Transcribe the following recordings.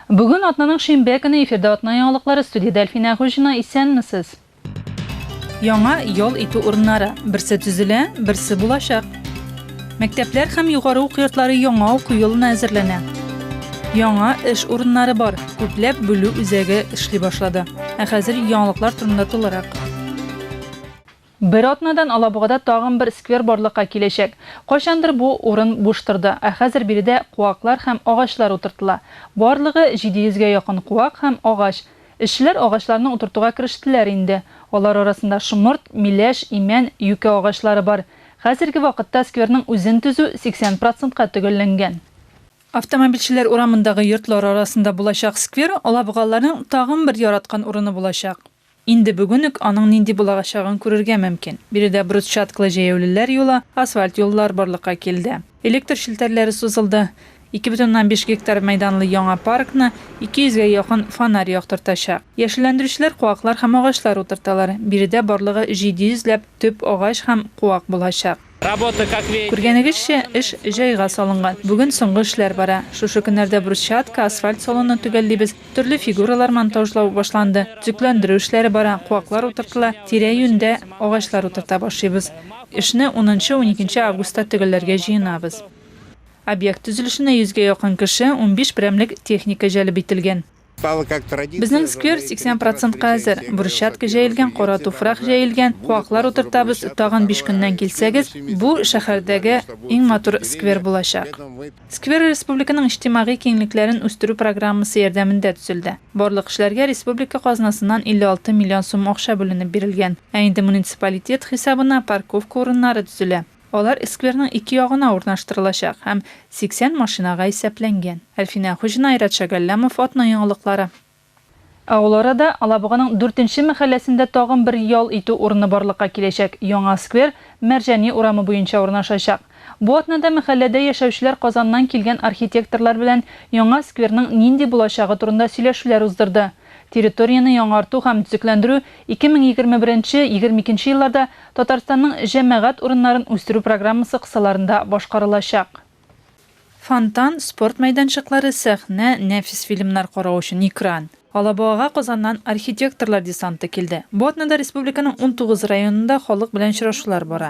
Бүген атнаның шимбә көне эфирда атна яңалыклары студиядә Әлфинә Әгуҗина, исәнмесез! Яңа ял итү урыннары, берсе төзелә, берсе булачак. Мәктәпләр һәм югары уку йортлары яңа уку елына әзерләнә. Яңа эш урыннары бар, күпләп бүлү үзәге эшли башлады. Ә хәзер яңалыклар турында тулырак. Бер атнадан Алабугада тагын бер сквер барлыкка киләчәк. Кайчандыр бу урын буш торды, ә хәзер биредә куаклар һәм агачлар утыртыла. Барлыгы 700 гә якын куак һәм агач. Эшчеләр агачларны утыртуга керештеләр инде. Алар арасында шомырт, миләш, имән, юкә агачлары бар. Хәзерге вакытта скверның үзен төзү 80 процентка төгәлләнгән. Автомобильчеләр урамындагы йортлар арасында булачак сквер алабугалыларның тагын бер яраткан урыны булачак. Инде бүген үк аның нинди булаачагын күрергә мөмкин. Биредә брусчатклы җәяүлеләр юлы, асфальт юллар барлыкка килде. Электр челтәрләре сузылды. Ике бөтен уннан биш гектар мәйданлы яңа паркны 200 гә якын фонарь яктыртачак. Яшелләндерүчеләр куаклар һәм агачлар утырталар. Биредә барлыгы 700 ләп төп агач һәм куак булачак. Күргәнегезчә, эш җайга салынган. Бүген соңгы эшләр бара. Шушы көннәрдә брусчатка, асфальт салонны төгәллибез. Төрле фигуралар монтажлау башланды. Төзекләндерү эшләре бара, куаклар утыртыла, тирә-юньдә агачлар утырта башлыйбыз. Эшне унынчы, уникенче августта төгәлләргә җыенабыз. Объект төзелешенә йөзгә якын кеше, унбиш берәмлек техника җәлеп ителгән. Безнең сквер 80 процентка әзер. Брусчатка җәелгән, кара туфрак җәелгән, куаклар утыртабыз, тагын биш көннән килсәгез, бу, шәһәрдәге иң матур сквер булачак. Сквер республиканың иҗтимагый киңлекләрен үстерү программасы ярдәмендә төзелде. Барлык эшләргә республика казнасыннан 56 миллион сум акча бүленеп бирелгән. Ә инде муниципалитет хисабына парковка урыннары төзелә. Алар скверның ике ягына урнаштырылачак һәм 80 машинага исәпләнгән. Әлфинә Хуҗина, Айрат Шәгәлләмов, Атна яңалыклары. Ә ул арада Алабуганың Дүртенче мәхәлләсендә тагын бер ял итү урыны барлыкка киләчәк, яңа сквер Мәрҗани урамы буенча урнашачак. Бу атнада мәхәлләдә яшәүчеләр Казаннан килгән архитекторлар белән яңа скверның нинди булачагы турында сөйләшүләр уздырды. Территорияне яңарту һәм төзекләндерү 2021-22 нче елларда Татарстанның җәмәгать урыннарын үстерү программасы кысаларында башкарылачак. Фонтан, спорт мәйданчыклары, сәхнә, нәфис фильмнар карау өчен экран. Алабугага Казаннан архитекторлар десанты килде. Бу атнада республиканың унтугыз районында халык белән очрашулар бара.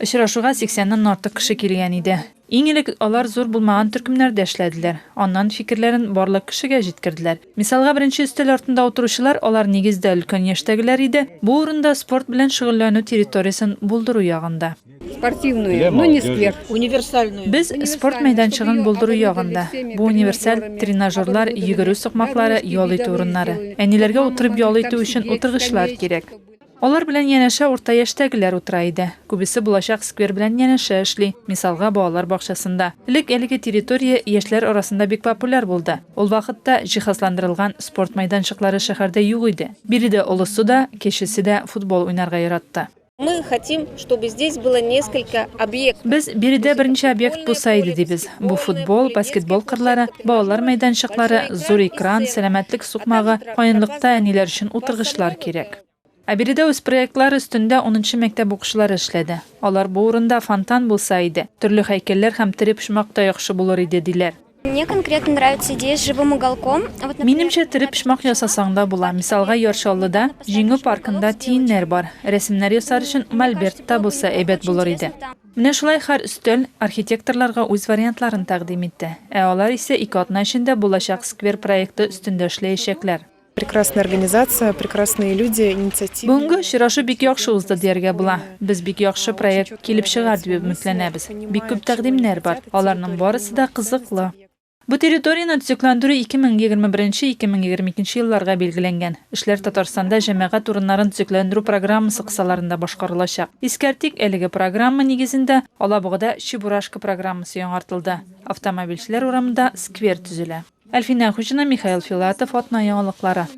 Очрашуга 80 ннан артык кеше килгән иде. Иң элек алар зур булмаган төркемнәрдә эшләделәр, аннан фикерләрен барлык кешегә җиткерделәр. Мисалга, беренче өстәл артында утыручылар, алар нигездә өлкән яшьтәгеләр иде, бу урында спорт белән шөгыльләнү территориясен булдыру ягында. Спортивную, но не сквер. Универсальную. Без спорт мәйданчыгын булдыру ягында. Бу универсаль, тренажерлар, йөгерү сукмаклары, ял итү урыннары. Әниләргә утырып ял итү өчен утыргычлар кирәк. Алар белән янәшә урта яшьтәгеләр утыра иде. Күбесе булачак сквер белән янәшә эшли, мисалга, балалар бакчасында. Элек әлеге территория яшьләр арасында бик популяр булды. Ул вакытта җиһазландырылган спорт майданчыклары шәһәрдә юк иде. Биредә олысы да, кечесе дә футбол уйнарга яратты. Мы хотим, чтобы здесь было несколько объектов. Без, биредә берничә объект булса иде, дибез. Бу футбол, баскетбол кырлары, балалар мәйданчыклары, зур экран, сәламәтлек сукмагы, каенлыкта әниләр өчен утыргычлар кирәк. Ә биредә үз проектлары өстендә унынчы мәктәп укучылары эшләде. Алар бу урында фонтан булса иде, төрле һәйкәлләр һәм тере почмак та яхшы булыр иде, диләр. Мне конкретно нравится идея с живым уголком. Вот, например, Минемчә, тере почмак ясасаң да була. Мисалга, Яр Чаллыда, Җиңү паркында тиеннәр бар. Рәсемнәр ясар өчен мольберт та булса әйбәт булыр иде. Менә шулай һәр өстәл архитекторларга үз вариантларын тәкъдим итте. Ә алар исә ике атна эчендә булачак сквер проекты өстендә эшләячәкләр. Прекрасная организация, прекрасные люди, инициатива. Бүгенге очрашу бик яхшы узды дияргә була. Без бик яхшы проект килеп чыгар дип өметләнәбез. Бик күп тәкъдимнәр бар. Аларның барысы да кызыклы. Бу территорияне төзекләндерү 2021-2022 елларга билгеләнгән. Эшләр Татарстанда җәмәгать урыннарын төзекләндерү программасы кысаларында башкарылачак. Искәртик, әлеге программа нигезендә Алабугада Чебурашка программасы яңартылды. Автомобильчеләр урамында сквер төзелә. Әлфинә Хуҗина, Михаил Филатов, Атна яңалыклары.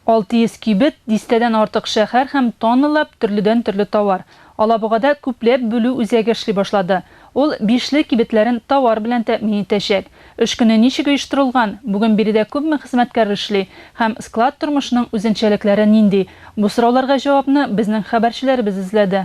600 кибет, дистәдән артык шәһәр һәм тонналап төрледән-төрле товар. Алабугада күпләп бүлү үзәге эшли башлады. Ул Бишле кибетләрен товар белән тәэмин итәчәк. Эш көне ничек оештырылган, бүген биредә күпме хезмәткәр эшли һәм склад тормышының үзенчәлекләре нинди? Бу сорауларга җавапны безнең хәбәрчеләребез эзләде.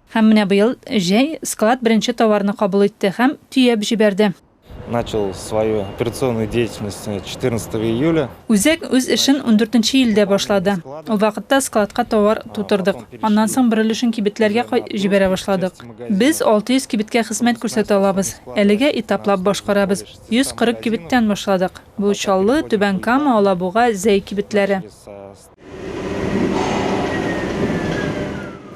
Һәм менә быел җәй склад беренче товарны кабул итте һәм төяп җибәрде. Начал свою операционную деятельность четырнадцатого июля. Үзәк үз эшен ундүртенче июльдә башлады. Ул вакытта складка товар тутырдык. Аннан соң бер өлешен кибетләргә кай җибәрә башладык. Без 600 кибеткә хезмәт күрсәтә алабыз. Әлегә этаплап башкарабыз. 140 кибеттән башладык. Бу Чаллы, Түбән Кама, Алабуга, Зәй кибетләре.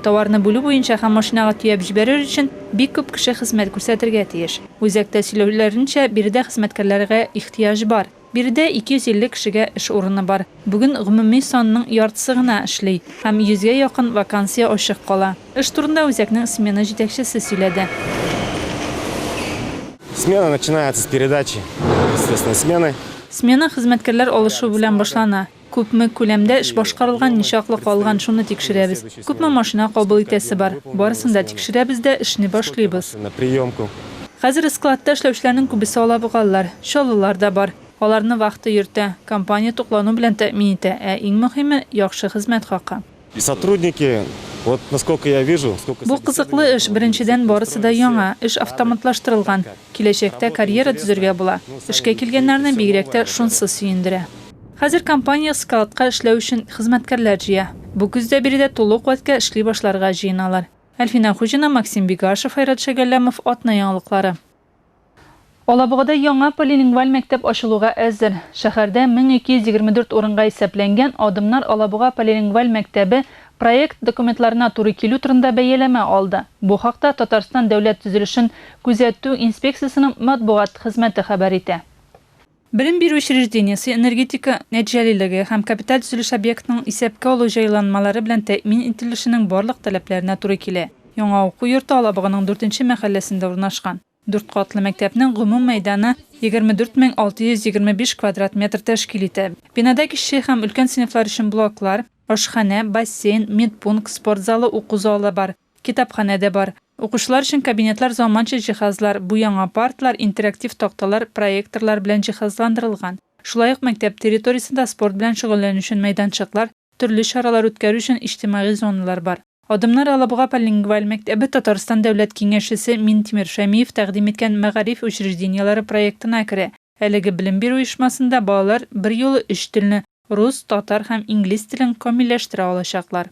Товарны бүлү буенча һәм машинага төяп җибәрер өчен бик күп кеше хезмәт күрсәтергә тиеш. Үзәктә сөйләүләренчә, биредә хезмәткәрләргә ихтыяҗ бар. Биредә 250 кешегә эш урыны бар. Бүген гомуми санның яртысы гына эшли һәм 100 гә якын вакансия ачык кала. Эш турында үзәкнең смена җитәкчесе сөйләде. Смена начинается с передачи, естественно, смены. Смена хезмәткәрләр алышу белән башлана. Күпме күләмдә эш башкарылган, ничаклы калган, шуны тикшерәбез. Күпме машина кабул итәсе бар. Барысын да тикшерәбез дә, эшне башлыйбыз. Хәзер складта эшләүчеләрнең күбесе алабугалылар, чаллылар да бар. Аларны вахта йөртә, компания туклану белән тәэмин итә, ә иң мөһиме, яхшы хезмәт хакы. Бу кызыклы эш, беренчедән, барысы да яңа, эш автоматлаштырылган, киләчәктә карьера төзергә була. Эшкә килгәннәрне бигрәк тә шунсы сөендерә. Хәзер компания складка эшләү өчен хезмәткәрләр җыя. Бу көздә биредә тулы куәткә эшли башларга җыеналар. Әлфинә Хуҗина, Максим Бигашев, Айрат Шәгәлләмов, Атна яңалыклары. Алабугада яңа полилингваль мәктәп ачылуга әзер. Шәһәрдә 1224 урынга исәпләнгән Адымнар Алабуга полилингваль мәктәбе проект документларына туры килү турында бәяләмә алды. Бу хакта Татарстан Дәүләт төзелешен күзәтү инспекциясенең матбугат хезмәте хәбәр итә. Белем бирү учреждениесе энергетика нәтиҗәлелеге һәм капиталь төзелеш объектының исәпкә алу җайланмалары белән тәэмин ителешенең барлык таләпләренә туры килә. Яңа уку йорты Алабуганың дүртенче мәхәлләсендә урнашкан. Дүрт катлы мәктәпнең гомум мәйданы 24 мең 625 квадрат метр тәшкил итә. Бинада кече һәм өлкән сыйныфлар өчен блоклар, ашханә, бассейн, медпункт, спорт залы, уку залы бар. Китапханә дә бар. Укучылар өчен кабинетлар заманча җиһазлар, бу яңа партлар, интерактив такталар, проекторлар белән җиһазландырылган. Шулай ук мәктәп территориясендә спорт белән шөгыльләнү өчен мәйданчыклар, төрле чаралар үткәрү өчен иҗтимагый зоналар бар. Адымнар Алабуга полилингваль мәктәбе Татарстан Дәүләт Киңәшчесе Минтимер Шәмиев тәкъдим иткән мәгариф учреждениеләре проектына керә. Әлеге белем бирү оешмасында балалар берьюлы өч телне, рус, татар һәм инглиз телен камилләштерә алачаклар.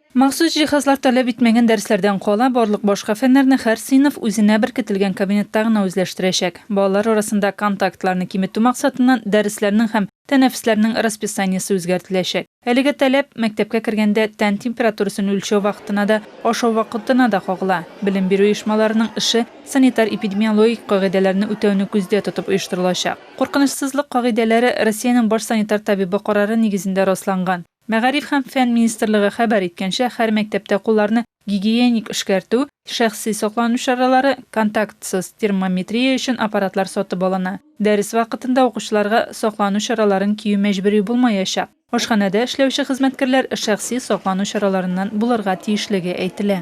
Махсус җиһазлар таләп итмәгән дәресләрдән кала, барлык башка фәннәрне һәр сыйныф үзенә беркетелгән кабинетта гына үзләштерәчәк. Балалар арасында контактларны киметү максатыннан дәресләрнең һәм тәнәфесләрнең расписаниесе үзгәртеләчәк. Әлеге таләп, мәктәпкә кергәндә, тән температурасын үлчәү вакытына да, ашау вакытына да кагыла. Белем бирү оешмаларының эше санитар-эпидемиологик кагыйдәләрне үтәүне күздә тотып оештырылачак. Куркынычсызлык кагыйдәләре Россиянең баш санитар табибы карары нигезендә расланган. Мәгариф һәм фән министрлыгы хәбәр иткәнчә, һәр мәктәптә кулларны гигиеник эшкәртү, шәхси саклану чаралары, контактсыз термометрия өчен аппаратлар сатып алына. Дәрес вакытында укучыларга саклану чараларын кию мәҗбүри булмаячак. Ашханәдә эшләүче хезмәткәрләр шәхси саклану чараларыннан булырга тиешлеге әйтелә.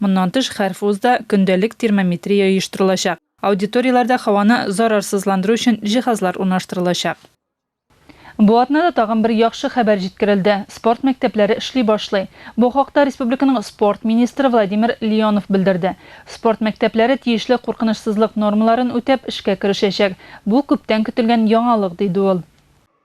Моннан тыш, һәр вузда көндәлек термометрия оештырылачак, аудиторияләрдә һаваны зарарсызландыру өчен җиһазлар урнаштырылачак. Бу атнада тагын бер яхшы хәбәр җиткерелде, спорт мәктәпләре эшли башлый. Бу хакта республиканың спорт министры Владимир Леонов белдерде. Спорт мәктәпләре тиешле куркынычсызлык нормаларын үтәп, эшкә керешәчәк. Бу, күптән көтелгән яңалык, диде ул.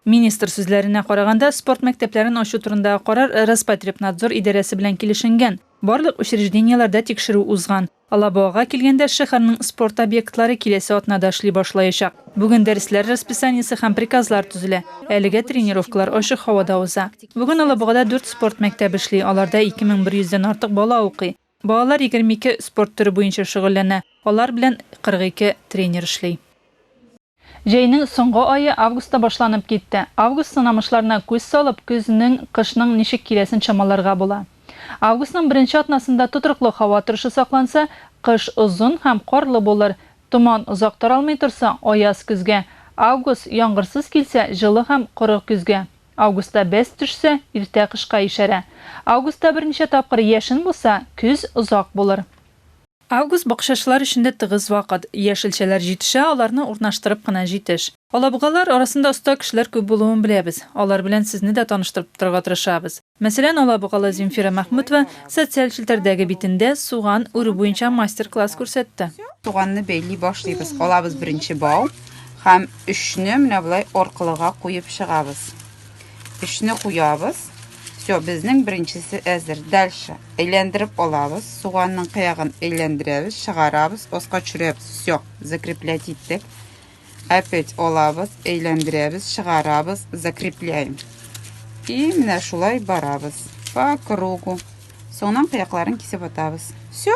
Министр сүзләренә караганда, спорт мәктәпләрен ачу турындагы карар Роспотребнадзор идарәсе белән килешенгән. Барлык учреждениеләрдә тикшерү узган. Алабугага килгәндә, шәһәрнең спорт объектлары киләсе атнада эшли башлаячак. Бүген дәресләр расписаниесе һәм приказлар төзелә. Әлегә тренировкалар ачык һавада уза. Бүген Алабугада дүрт спорт мәктәбе эшли, аларда 2100 дән артык бала укый. Балалар 22 спорт төре буенча шөгыльләнә, алар белән 42 тренер эшли. Җәйнең соңгы ае августта башланып китте. Август сынамышларына күз салып, көзнең, кышның ничек киләсен чамаларга була. Августның беренче атнасында тотрыклы һава торышы сакланса, кыш озын һәм карлы булыр. Томан озак таралмый торса, аяз көзгә. Август яңгырсыз килсә, җылы һәм коры көзгә. Августта бәс төшсә, иртә кышка ишарә. Августта берничә тапкыр яшен булса, көз озак булыр. Август бакчачылар өчен дә тыгыз вакыт. Яшелчәләр җитешә, аларны урнаштырып кына җитеш. Алабугалар арасында оста кешеләр күп булуын беләбез. Алар белән сезне дә таныштырып торырга тырышабыз. Мәсәлән, алабугалы Земфира Мәхмүтова социаль челтәрдәге битендә суган үрү буенча мастер-класс күрсәтте. Суганны бәйли башлыйбыз. Алабыз беренче бау һәм өчне менә болай аркылыга куеп чыгабыз. Эшне куябыз. Все, безнең беренчесе әзер. Дальше. Әйләндереп алабыз. Суганның кыягын әйләндерәбез, чыгарабыз, оска төшерәбез. Все, закреплять иттек. Опять алабыз, әйләндерәбез, чыгарабыз, закрепляем. И менә шулай барабыз. По кругу. Соңнан кыякларын кисеп атабыз. Все.